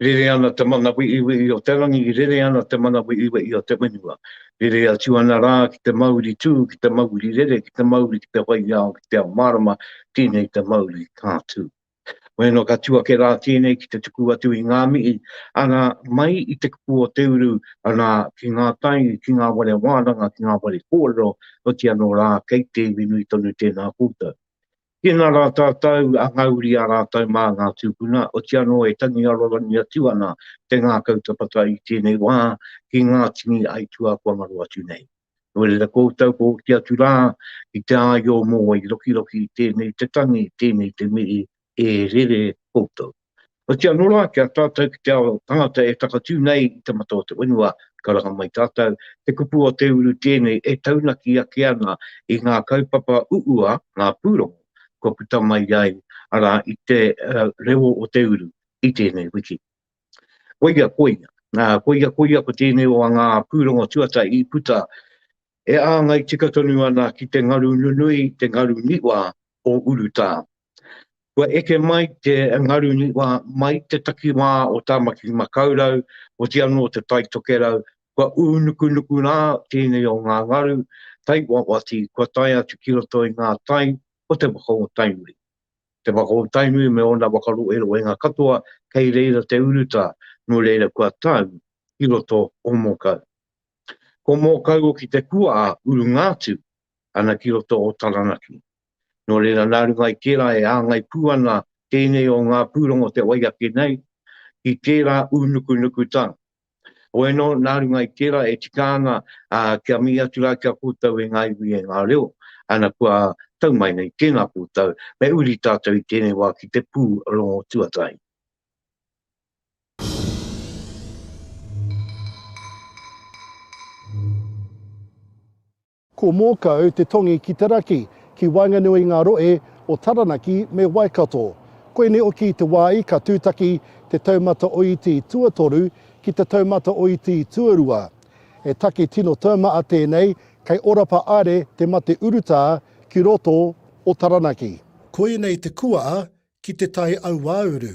Rere ana te mana weʻiweʻi o te rangi, rere ana te mana weʻiweʻi o te whenua. Rere atu ana rā ki te mauri tū, ki te mauri rere, ki te mauri ki te waiao, ki te ao mārama, tēnei te mauri ka tū. Waenga ka tū ake rā tēnei ki te tuku atu i ngā mihi, ana, mai i te kupu o te uru, ana, ki ngā tai, ki ngā ware wānanga, ki ngā ware kōrero, oti anō rā, kei te iwi nui tonu tēnā koutou. Tēnā rā tātou, a ngauri ā rātou mā ngā tūpuna, oti anō e tangi arorangi atu ana te ngākau tapata i tēnei wā ki ngā tini aituā kua ngaro atu nei. Ko rira koutou ko hoki atu rā ki te āio mō wai rokiroki tēnei te tangi, tēnei te mihi e rere koutou. Otiia anō rā ki a tātou ki te ao tangata e takatū nei i te mata o te whenua, karanga mai tātou, te kupu o te uru tēnei e taunaki ake ana i ngā kaupapa uua, ngā pūrongo kua puta mai ai, arā, i te reo o te uru i tēnei wiki. Koia, koia, koia, koia ko tēnei o ngā pūrongo tuatahi i puta e āngai tika tonu ana ki te ngaru nunui, te ngaru niwa o Urutā. Kua eke mai te ngaru niwa mai te takiwā o Tāmaki Makaurau, oti anō te Tai Tokerau, kua ū nukunuku rā tēnei o ngā ngaru tai wawati kua tae atu ki roto i ngā tai o te waka o Tainui. Te waka o Tainui me ōna waka roeroenga katoa kei reira te urutā, nō reira kua tau ki roto o Mōkau. Ko Mōkau oki te kua a Urungātu ana ki roto o Taranaki. Nō reira nā runga i tērā e āngai pū ana tēnei o ngā pūrongo te wai ake nei ki tērā ūnukunukutanga. Oē nō, nā runga i tērā e tika ana kia mihi atu rā ki a koutou e ngā iwi, e ngā reo, ana kua tau mai nei tēnā koutou, me uri tātou i tēnei wā ki te pū rongo tuatahi. Ko Mōkau te tongi ki te raki, ki waenganui i ngā rohe o Taranaki me Waikato. Koinei hoki te wā i ka tūtaki te taumata o Iti Tuatoru ki te taumata o Iti Tuarua. He take tino taumaha tēnei, kei Orapa Aere te mate urutā ki roto o Taranaki. Koinei te kuaa ki te tai auauru.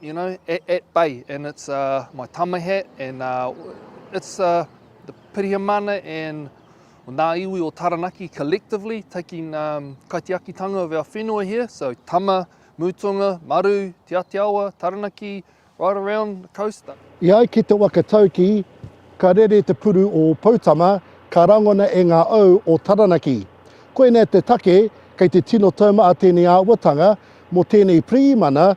You know, at, at bay, and it's uh, my tamahat, and uh, it's uh, the Pirihimana and nā iwi o Taranaki collectively taking um, kaitiakitanga of our whenua here, so Tama, Mutunga, Maru, Te Atiawa, Taranaki, right around the coast. I ai ki te waka tauki, ka rere te puru o Poutama, ka rangona e ngā au o Taranaki. Koinei te take, kei te tino taumata tēnei āwatanga mō tēnei Pirihimana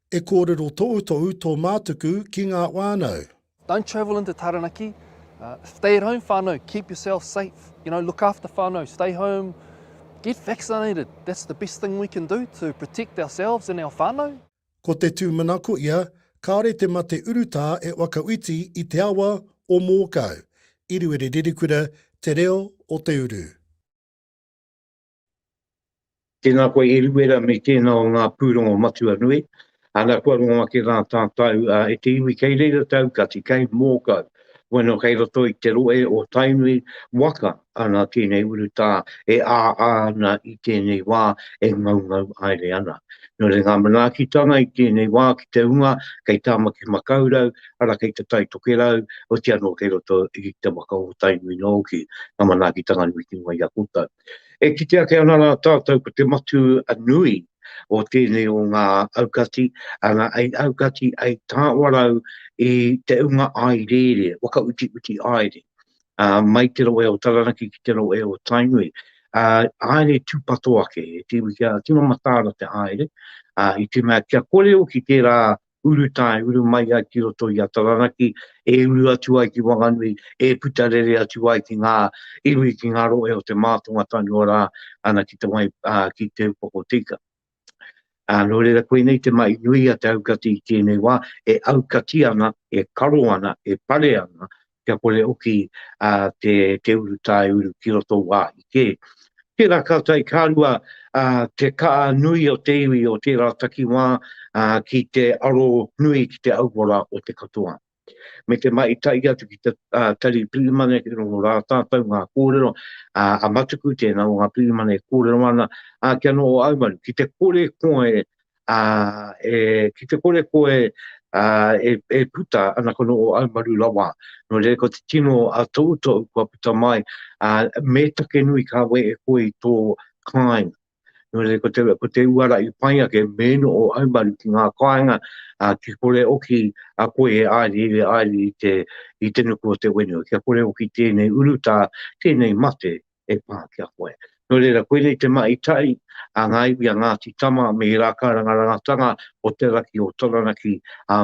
E kōrero toutou tō mātuku ki ngā whānau. Don't travel into Taranaki, stay at home whānau, keep yourself safe, you know, look after whānau, stay home, get vaccinated, that's the best thing we can do to protect ourselves and our whānau. Ko te tūmanako ia, kāore te mate urutā e whakawhiti i te awa o Mōkau, Iriwere Rerekura, Te Reo o te Uru. Tēnā koe Eruera me tēnā o ngā pūrongo matua nui. Ana kua rongo ake rā tātou e te iwi kei reira te aukati, kei Mōkau. Bueno kei roto i te rohe o Tainui waka ana tēnei urutā e āā ana i tēnei wā e ngaungau aere ana. Nō reira ngā manaakitanga i tēnei wā ki te hunga kei Tāmaki Makaurau ara kei Te Tai Tokerau oti anō kei roto i te waka o Tainui nōki ngā manaakitanga nui ki runga i a koutou. E kite ake ana rā tātou ko te matū nui o tēnei o ngā aukati, ana, ei aukati, ei tāwarau i te unga āereere, whakautiuti āere, ā, mai te rohe o Taranaki ki te rohe o Tainui, ā, āere tūpato ake, e te iwi kia tīma mataara te āere, ā, i te mea kia kore hoki tērā uru tae, uru mai ai ki roto i a Taranaki, e uru atu ai ki Wanganui, e puta rere atu ai ki ngā iwi, ki ngā rohe o te mātonga whenua rā, ana ki te wai, ā, ki Te Upoko Tika. Ā, nō reira, koinei te mahi nui a te aukati i tēnei wā, e aukati ana, e karo ana, e pare ana, kia kore hoki te urutā e uru ki roto o wāhi kē. Tērā ka tae ka rua te kaha nui o te iwi o tērā takiwā ki te aro nui ki te auora o te katoa. Me te mahi tahi atu ki te Tari Pirihimana ki roto o rā tātou ngā kōrero, a Matuku tēnā o ngā pirihimana e kōrero ana, ā, kia noho aumaru ki te kore koe Ā, e, ki te kore koe, ā, e, e puta ana kono o au maru rawa, nō reira ko te tino a Toutou kua puta mai, ā, me take nui ka we e koe i tō kāinga. Nō reira ko te, ko te uara i pai ake me no o au maru ki ngā kāinga, ā, ki kore oki a koe e āirie, e āirie i te, i te nuku o te whenua, kia kore oki tēnei urutā, tēnei mate, e pā ki a koe. Nō reira, koinei te mahi tahi a ngā iwi a Ngāti Tama me he rākauranga rangatanga o te raki o Taranaki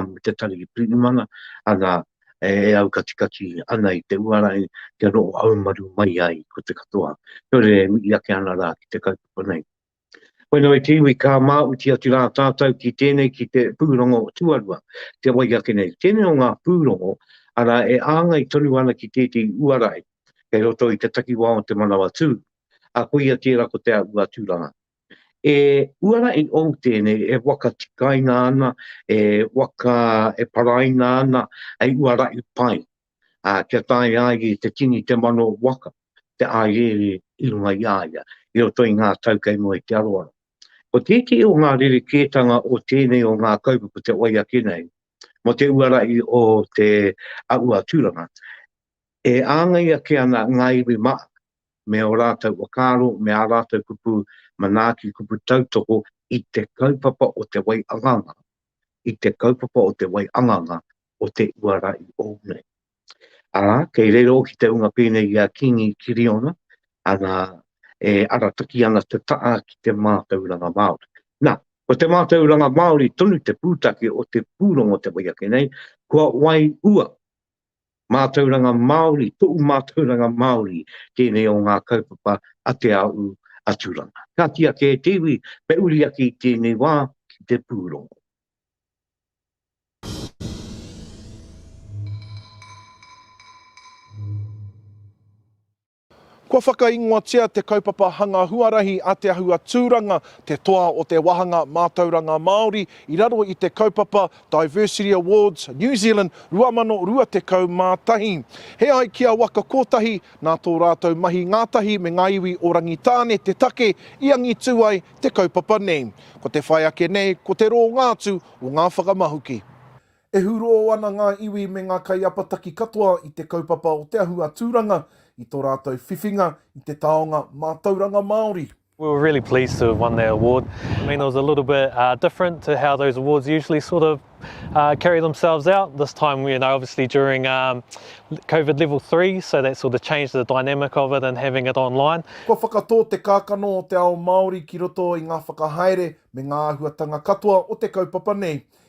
me te tari i Pirimana, ana, e aukatikati ana i te uarangi kia noho haumaru mai ai ko te katoa. Nō reira, e mihi ake ana rā ki te kaupapa nei. Koinā te iwi ka māuti atu rā tātou ki tēnei ki te pūrongo tuarua, te wai ake nei. Tēnei o ngā pūrongo, arā, e āngai tonu ana ki tētehi uarahi kei roto i te takiwā o Te Manawatū, ā, koia tērā ko Te Aua Tūranga. He uarahi ou tēnei e waka tikaina ana, e waka, e paraina ana hei uarahi pai. ā, kia tae ai i te tini te mano waka te āiere i runga i a ia, i roto i ngā tau kei mua i te aroaro. Ko tētehi o ngā rerekētanga o tēnei o ngā kaupapa te wai ake nei mō te uarahi o te ahu a Tūranga, e āngai ake ana ngā iwi Māori me ō rātou whakaaro, me ā rātou kupu manaaki, kupu tautoko i te kaupapa o te wai anganga i te kaupapa o te wai anganga o te uara i ou nei. Ara, kei rero ki te unga pēnei i a Kīngi Kiriona, ana, e arataki ana te taa ki te mātauranga Māori. Na, ko te mātauranga Māori tonu te pūtake o te pūrongo te wai ake nei, kua wai ua, Mātauranga Māori, toʻu mātauranga Māori tēnei o ngā kaupapa a Te Aʻu a Turanga. Ka kī ake e te iwi, me uri ake i tēnei wā ki te pūrongo. Kua whakaingoatia te kaupapa hanga huarahi a Te Ahua Tūranga, te toa o te wāhanga mātauranga Māori i raro i te kaupapa Diversity Awards New Zealand 2021. He ai ki a Waka Kotahi, nā tō rātou mahi ngātahi me ngā iwi o Rangitāne te take i angitū ai te kaupapa nei. Ko te whai ake nei, ko te rōngā atu o ngā whakamahuki. E hurō ana ngā iwi me ngā kaiapataki katoa i te kaupapa o Te Ahu a Tūranga i tō rātou whiwhinga i te taonga mātauranga Māori. We were really pleased to have won that award. I mean it was a little bit different to how those awards usually sort of carry themselves out. This time, you know, obviously during Covid level three, so that sort of changed the dynamic of it and having it online. Kua whakatō te kākano o te ao Māori ki roto i ngā whakahaere me ngā āhuatanga katoa o te kaupapa nei.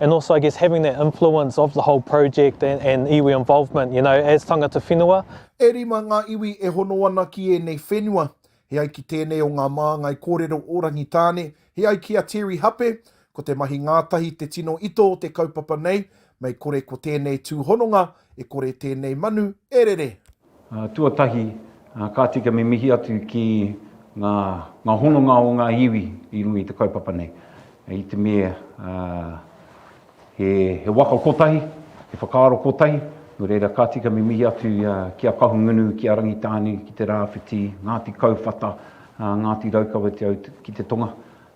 and also I guess having that influence of the whole project and, and iwi involvement, you know, as tangata whenua. E rima ngā iwi e hono ana ki ēnei whenua. He ai ki tēnei o ngā māngai kōrero o Rangitāne, he ai ki a Terry Hape, ko te mahi ngātahi te tino ito o te kaupapa nei, mei kore ko tēnei tūhononga, e kore tēnei manu e rere. Tuatahi, kāti kia mimihi atu ki ngā hononga o ngā iwi i runga i te kaupapa nei. I te mea he waka kotahi, he whakaaro kotahi, nō reira kāti kia mimihi atu ki a Kahungunu, ki a Rangitāne, ki te Rāwhiti, Ngāti Kauwhata, Ngāti Raukawa ki te tonga,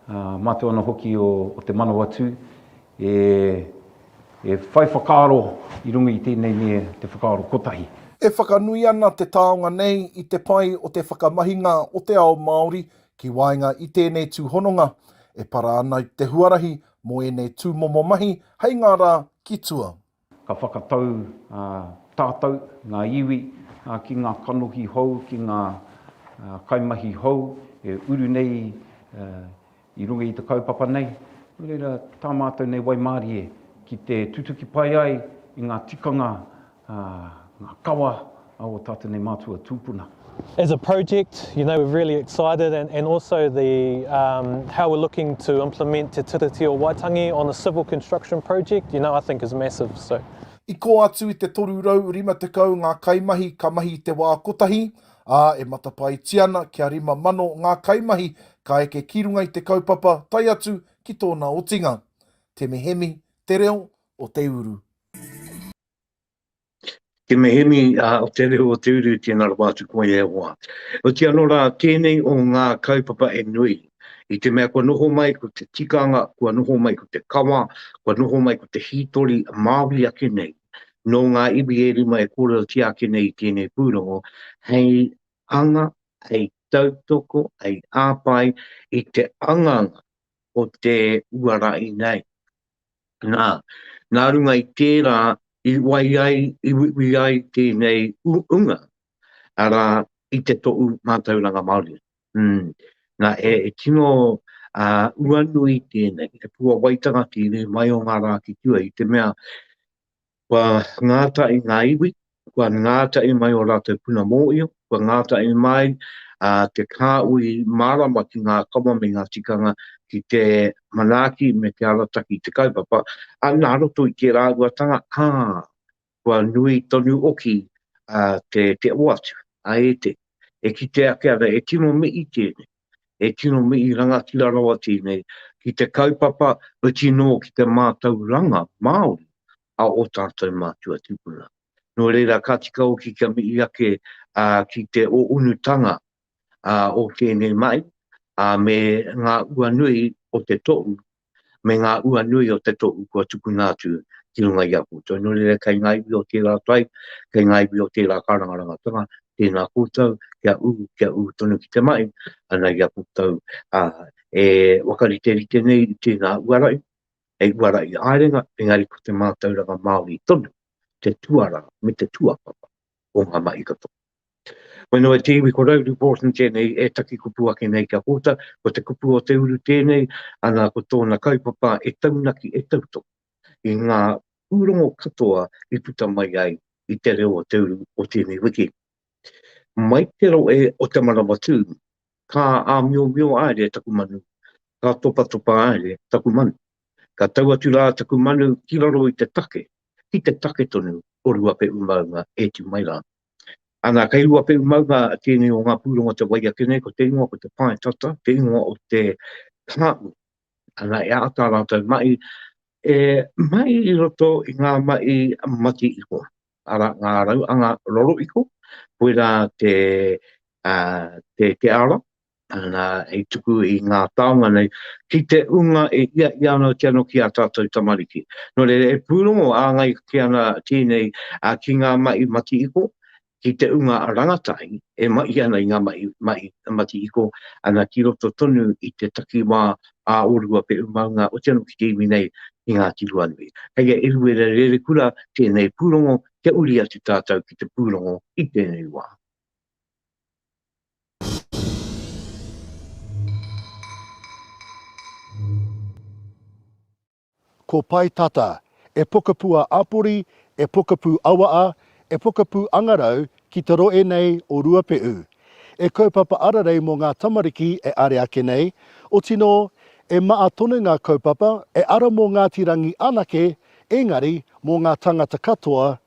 mātou anō hoki o Te Manawatū E, e whai whakaaro i runga i tēnei me te whakaaro kotahi. E whakanui ana te taonga nei i te pai o te whakamahinga o te ao Māori ki waenga i tēnei tūhononga, e para ana te huarahi mō ēnei tūmomo mahi hei ngā rā ki tua. Ka whakatau tātou, ngā iwi, ki ngā kanohi hou, ki ngā kaimahi hou e uru nei i runga i te kaupapa nei. Nō reira, tā mātou nei waimarie ki te tutuki pai ai i ngā tikanga, ngā kawa a o Tatene Matua tupuna. As a project, you know, we're really excited and, and also the um, how we're looking to implement Te Tiriti o Waitangi on the civil construction project, you know, I think is massive. So. I kō atu i te 350 ngā kaimahi ka mahi i te wā kotahi, ā, e matapaetia ana kia 5,000 ngā kaimahi ka eke ki runga i te kaupapa tae atu ki tōna otinga. Temehemi, Te Reo o Te Uru. Te mihini o te reo o te uru, tēnā rawa atu koe e hoa. Oti anō rā, tēnei o ngā kaupapa e nui, i te mea kua noho mai ko te tikanga, kua noho mai ko te kawa, kua noho mai ko te hītori Māori ake nei, nō ngā iwi e rima e kōrerotia ake nei i tēnei pūrongo, hei hanga, hei tautoko, hei hāpai i te anganga o te uara i nei. Nā, nā runga i tērā i wai ai, i uiui ai tēnei uunga, arā, i te toʻu mātauranga Māori. Umm, nā, e tino uanui tēnei, he puawaitanga ki rē mai o ngā rā ki tua, i te mea, Kua ngātahi ngā iwi, kua ngātahi mai ō rātou puna mōhio, kua ngātahi mai te kāhui mārama ki ngā kawa me ngā tikanga ki te manaaki me te arataki i te kaupapa, ā, nā roto i tērā uatanga, ā, kua nui tonu hoki te oatu, ā, e te. E kite ake ana, e tino mihi tēnei. e tino mihi rangatira rawa tēnei ki te kaupapa whiti nō ki te mātauranga Māori a ō tātou mātua tūpuna. Nō reira, ka tika hoki kia mihi ake ki te ōunutanga o tēnei mai me ngā ua nui o te tohu me ngā ua nui o te tohu kua tukuna atu ki runga i a koutou. Nō reira, kei ngā iwi o tērā tai, kei ngā iwi o tērā kārangarangatanga, tēnā koutou, kia ū, kia ū tonu ki te mahi, ana i a koutou, ā, e whakariterite nei i tēnā uarai, hei uarai ārenga, engari ko te mātauranga Māori tonu te tuarā me te tuakapa. o ngā mahi katoa. Koe noa te iwi ko Rowley Borton tēnei e taki kupu ake nei kia kōta, ko te kupu o te uru tēnei, ana ko tōna kaupapa e taunaki, e tautoko i ngā pūrongo katoa i puta mai ai i te reo o te uru o tēnei wiki. Mai te rohe o Te Maramatū, Ka āmiomio haere taku manu, ka topatopa haere taku manu. Ka tau atu rā taku manu ki raro i te take, ki te take tonu o Ruapehu maunga e tū mai rā. Ana, kei Ruapehu maunga tēnei o ngā pūrongo te wai ake nei, ko te ingoa ko te pae tata, te ingoa o te kāu. Ana, e āta rātou mahi, e mahi i roto i ngā mahi mati iho. ara ngā rauanga roroiko, koirā te ara hei tuku i ngā taonga nei ki te ūnga e ia i a rātou anō ki ā tātou tamariki. Nō reira, e pūrongo āngai ake ana tēnei ki ngā mahi matihiko, ki te ūnga rangatahi e mahi ana i ngā mahi matihiko ki roto tonu i te takiwā ā ō Ruapehu maunga otirā anō ki te iwi nei i Ngāti Ruanui. Hei a Eruera Rerekura tēnei pūrongo kia uri atu tātou ki te pūrongo i tēnei wā. Ko Pae Tata, e pokapū a Apori, e pokapū Awaa, e pokapū Angarau ki te roe nei o Ruapeʻu. E kaupapa ararei mō ngā tamariki e are ake nei, oti nō, e maa tonu ngā kaupapa e ara mō Ngāti Rangi anake, engari mō ngā tangata katoa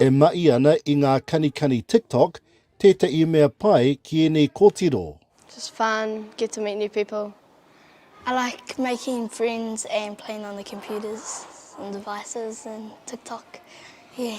E mahi ana i ngā kanikani TikTok tētahi mea pai ki ēnei kōtiro. Just fun, get to meet new people. I like making friends and playing on the computers and devices and TikTok, yeah.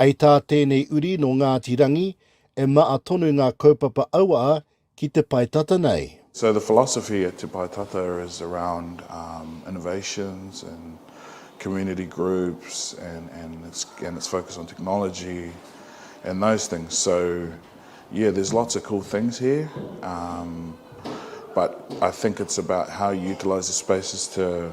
Hei tā tēnei uri nō Ngāti Rangi, e maa tonu ngā kaupapa auaa ki te pae tata nei. So the philosophy at Te Pae Tata is around innovations and community groups and and it's and it's focused on technology and those things. So yeah there's lots of cool things here but I think it's about how you utilise the spaces to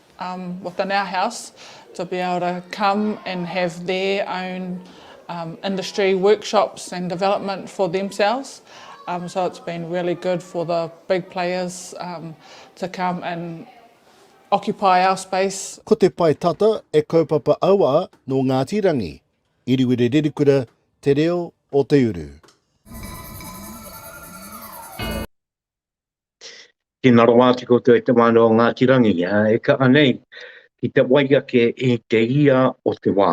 um with in our house to be able to come and have their own um industry workshops and development for themselves um so it's been really good for the big players um to come and occupy our space. Ko te pae tata e kaupapa aua no Ngati Rangi, Iriwiri Ririkura te reo o te uru. Tēnā rawa atu koutou e te whānau o Ngāti Rangi, e kaha nei ki te wai ake i te ia o te wā.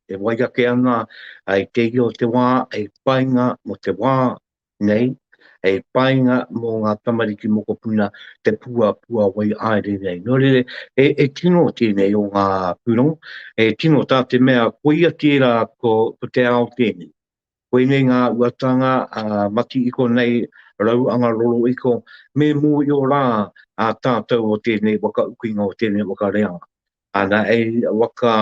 E wai ake ana i te ia o te wā hei painga mō te wā nei, hei painga mō ngā tamariki mokopuna te puapua wai haere nei. Nō reira, he tino tēnei o ngā pūrongo, he tino tā te mea koia tērā ko te ao tēnei. Koinei ngā uatanga a Mati-iko nei rau anga roroiko me mōio rā a tātou o tēnei whakaukinga o tēnei whakareanga. Ana ei waka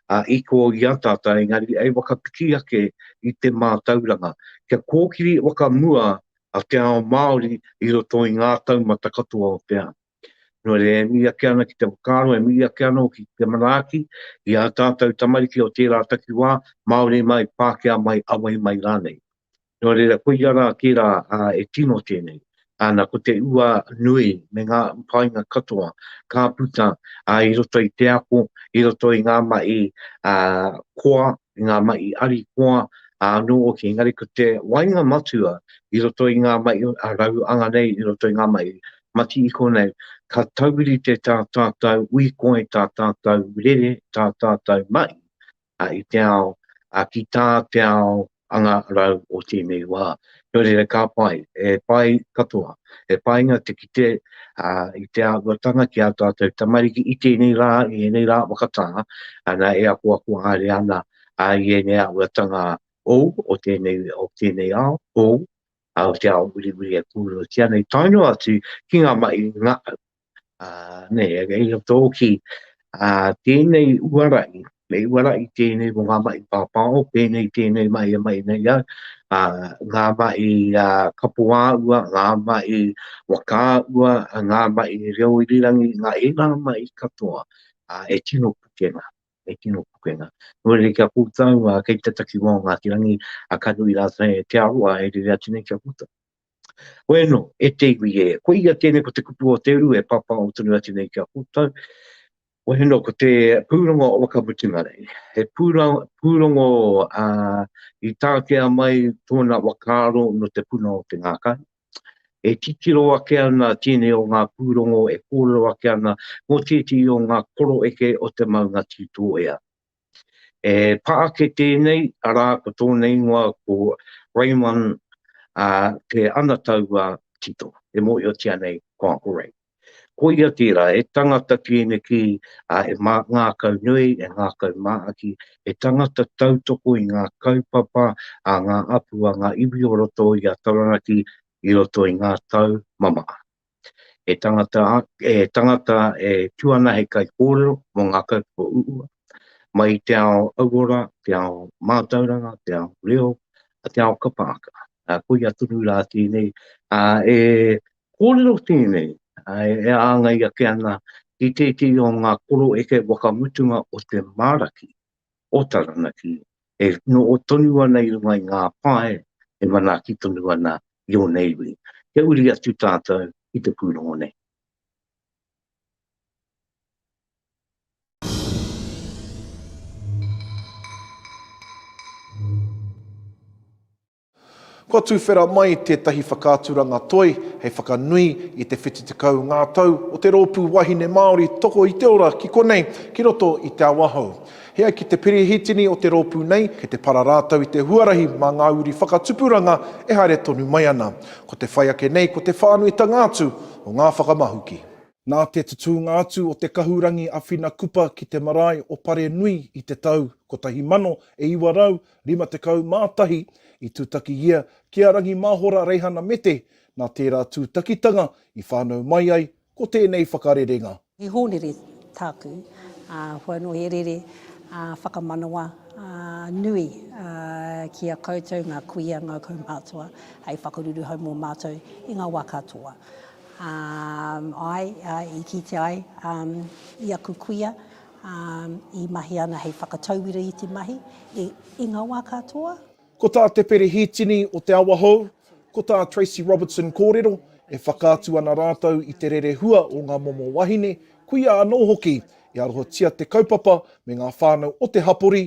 a iko i a tātou engari ei whakapiki ake i te mātauranga kia kōkiri whakamua a te ao Māori i roto i ngā taumata katoa o te ao. Nō reira, e mihi ake ana ki te whakaaro, e mihi ake anō ki te manaaki i ā tātou tamariki o tērā takiwā, Māori mai, Pākehā mai, Awahi mai rānei. Nō reira, koia rā tērā e tino tēnei. Ana, ko te ua nui me ngā painga katoa ka puta i roto i te ako, i roto i ngā mahi koa, i ngā mahi ari koa anō hoki, engari ko te wainga matua i roto i ngā mahi rau anga nei, i roto i ngā mahi mati i konei, ka taurite tā tātou uikoi, tā tātou rere, tā tātou mahi i te ao, ki tā te ao anga rau o tēnei wā. Nō reira ka pai, he pai katoa, he painga te kite i te āhuatanga ki ā tātou tamariki i tēnei rā, i ēnei rā whakatā, ana e akoako haere ana i ēnei āhuatanga hou o tēnei ao, hou ā, o te ao wiriwiri e kōrerotia nei, tae noa atu ki ngā mahi i ngā au. Ā, nei, e kei roto hoki ā, tēnei uara i, me uara i tēnei mō ngā mahi pāpāho, pēnei tēnei mahi e mahi nei au, ā, ngā mahi ā, kapo ā ua, ngā mahi waka ā ua, ngā mahi reo irirangi, ngā, ēnā mahi katoa, ā, e tino pukenga. e tino pukenga. Nō reira, ki a koutou, kei te takiwā o Ngāti Rangi, a ka nui rātou e Te Arawa e rere atu nei ki a koutou. Hoi anō, e te iwi e, ko ia tēnei ko te kupu o te uru e pāpāho tonu atu nei ki a koutou, hoi anō, ko te pūrongo o Wakamutunga Rei, he pūrongo i tākea mai tōna whakaaro nō te puna o te ngākau, E titiro ake ana tēnei o ngā pūrongo e kōrero ake ana mō tētehi o ngā koro eke o te maunga Tūtōea. E pā ake tēnei, arā, ko tōna ingoa ko Raymond, ā, te anatau a Tito, e mōhiotia nei ko Uncle Ray. Koia tērā, he tangata tēneki a e ngākau nui, e ngākau māaki, he tangata tautoko i ngā kaupapa a ngā apu a ngā iwi o roto i a Taranaki i roto i ngā tau mamaā. He tangata he tangata e tū ana hei kaikōrero mō ngā kaupapa uua mai i te ao auora, te ao mātauranga, te ao reo, te ao kapa aka. Koia tonu rā tēnei e Kōrero tēnei e āngai ake ana ki tētehi o ngā koro eke whakamutunga o te māraki o Taranaki e noho tonu ana i runga i ngā pae e manaaki tonu ana i ōna iwi. Kia uri atu tātou i te pūrongo nei. Kua tuwhera mai tētahi whakaaturanga toi hei whakanui i te 70 ngā tau o te rōpū wahine Māori Toko i te Ora ki konei, ki roto i Te Awahou. He ai ki te Pirihitini o te rōpū nei, kei te para rātou i te huarahi mā ngā uri whakatupuranga e haere tonu mai ana. Ko te whai ake nei ko te whānuitanga atu o ngā whakamahuki. Nā te tutūnga atu o te kahurangi a Whina Kupa ki te marae o Parenui i te tau 1900, 51 i tutaki ia ki a Rangi Mahora Reihana Mete, nā tērā tūtakitanga i whānau mai ai ko tēnei whakarerenga. He hōnere tāku, ā, kua noho he rere whakamanawa nui ki a koutou ngā kuia, ngā kaumātua hei whakaruruhau mō mātou i ngā wā katoa. Āe, i kitea ai i aku kuia ā, i mahi ana hei whakatauira i te mahi, i ngā wā katoa. Ko tā Te Perehitini o Te Awahou, ko tā Tracy Robertson kōrero, e whakaatu ana rātou i te rerehua o ngā momo wahine, kuia anō hoki, i arohatia te kaupapa me ngā whānau o te hapori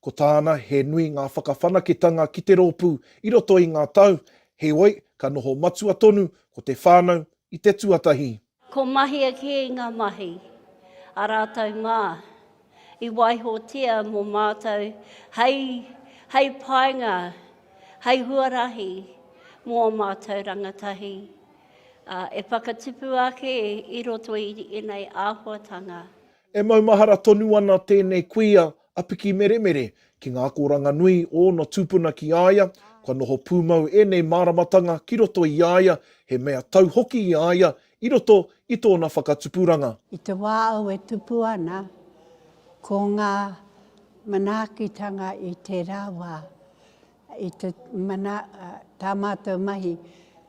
Ko tāna, he nui ngā whakawhanaketanga ki te rōpū i roto i ngā tau, heoi, ka noho matua tonu ko te whānau i te tuatahi. Ko mahia kē ngā mahi a rātou mā i waihotia mō mātou hei, hei painga, hei huarahi mō ō mātou rangatahi e whakatupu ake i roto i ēnei āhuatanga. E maumahara tonu ana tēnei kuia a Piki Meremere ki ngā akoranga nui o ōna tūpuna ki a ia, kua noho pūmau ēnei māramatanga ki roto i a ia, he mea tau hoki i a ia i roto i tōna whakatupuranga. I te wā au e tupu ana, ko ngā manaakitanga i tērā wā, i te mana, tā mātou mahi.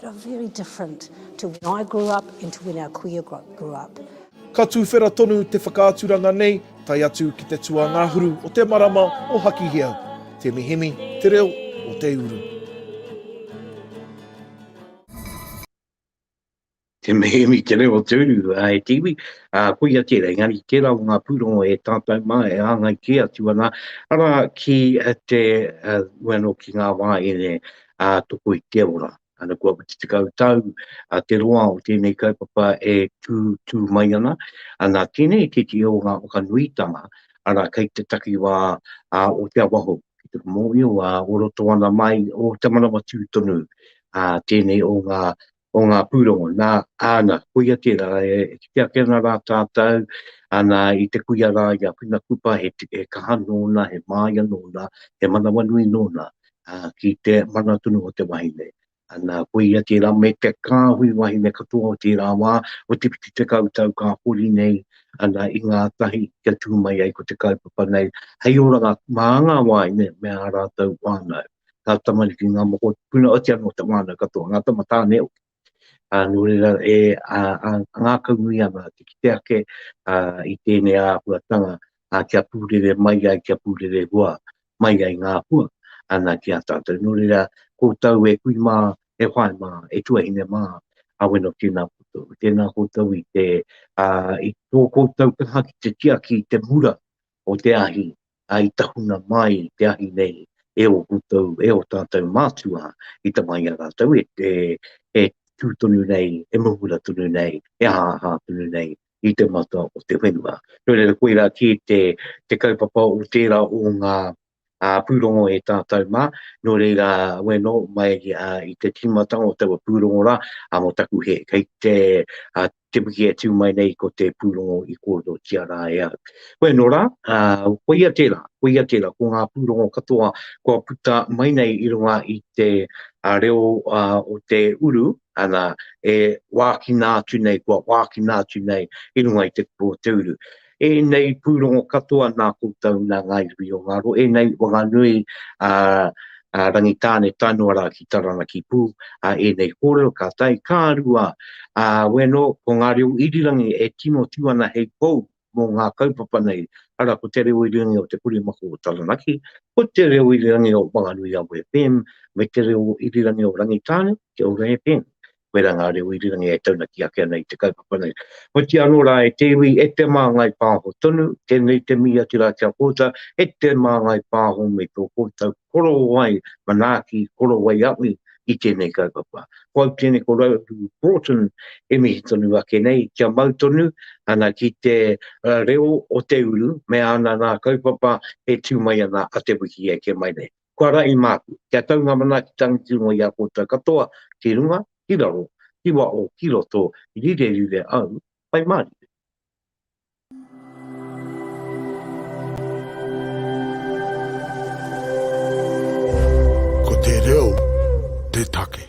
That are very different to when I grew up and to when our kuia grew up. Ka tuwhera tonu te whakaaturanga nei, tae atu ki te tuangahuru o te marama o Hakihea, Te Mihimi, Te Reo o Te Uru. Te Mihimi, Te Reo o Te Uru, e te iwi, a, koia tērā, engari tērā o ngā pūrongo e tātou mā, e āngai kē atu ana, ara ki te, uh, ueno ki ngā wā e ā toko i te ora. Ana kua 40 tau te roa o tēnei kaupapa e tū mai ana, ana tēnei tētehi o ngā whakanuitanga, arā kei te takiwā o Te Awaho ki te mōhio ā o roto ana mai o Te Manawatū tonu tēnei o ngā o ngā pūrongo, nā, āna, koia tērā, e kite ake ana rā tātou, ana, i te kuia rā i a Whina Kupa, he, he kaha nōna, he māia nōna, he manawanui nōna, ā, ki te mana tonu o te wahine. Ana, koia tērā, me te kāhui wahine katoa o tērā wā, o te whitu tekau tau ka hori nei, ana, i ngā tahi kia tū mai ai ko te kaupapa nei, hei oranga mā ngā wāhine me ā rātou whānau. ngā tamariki, ngā moko, puna oti anō te wānau katoa, ngā tama tāne hoki. Uh, nō reira, e uh, uh, ngākau nui ana te kite ake uh, i tēnei āhuatanga uh, kia pūrere mai ai, kia pūrere hua mai ai ngā hua ana ki a tātou. Nō reira, koutou e kui mā, e whae mā, e tuahine mā, a wena tēnā koutou. Tēnā koutou i te, uh, i tō koutou kaha ki te tiaki, te mura, o te ahi, a i tahuna mai te ahi nei e o koutou, e o tatou mātua i tama i a ratou e e tu tonu nei, e mumura tonu nei, e ahaha tonu nei i te mata o te whenua. No reira koira ki te te kaupapa o tera o nga ā, pūrongo e tātou mā, nō reira, wēnō, mai i te tīmatanga o taua pūrongo rā, ā, mō taku hē, kei te, ā, te wiki e tū mai nei ko te pūrongo i kōrerotia rā e au. Wēnō rā, ā, koia tērā, koia tērā, ko ngā pūrongo katoa kua puta mai nei i runga i te, ā, reo, ā, o te uru, ana, e wākina atu nei, kua wākina atu nei i runga i te kupu o te uru. Ēnei pūrongo katoa nā koutou, nā Ngāi Ruhi o Ngaro, ēnei Whanganui a Rangitāne Tainua rā ki Taranaki pū, a ēnei kōrero ka tae, ka rua, a weno ko ngā reo irirangi e tino tū ana hei pou mō ngā kaupapa nei, ara ko te reo irirangi o Te Kuri Mako o Taranaki, ko te reo irirangi o Whanganui Awa FM, me te reo irirangi o Rangitāne, Kia Ora FM. koe rā ngā reo irirangi e taunaki ake ana i te kaupapa nei. Hoki anō rā e te iwi, e te māngai pāho tonu, tēnei te mihi atu rā ki a koutou, e te māngai pāho me tō koutou korowai manaaki, korowai awi i tēnei kaupapa. Ko au tēnei ko Rauru Broughton e mihi tonu ake nei, kia mau tonu ana ki te reo o te uru me ana nā kaupapa e tū mai ana a Te Wiki e kē mai nei. Kua rahi māku, kia tau ngā manaaki tangitūnga i a koutou katoa, ki runga, ki raro, ki waho, ki roto, rirerire au, whai mārire. Ko te reo te take.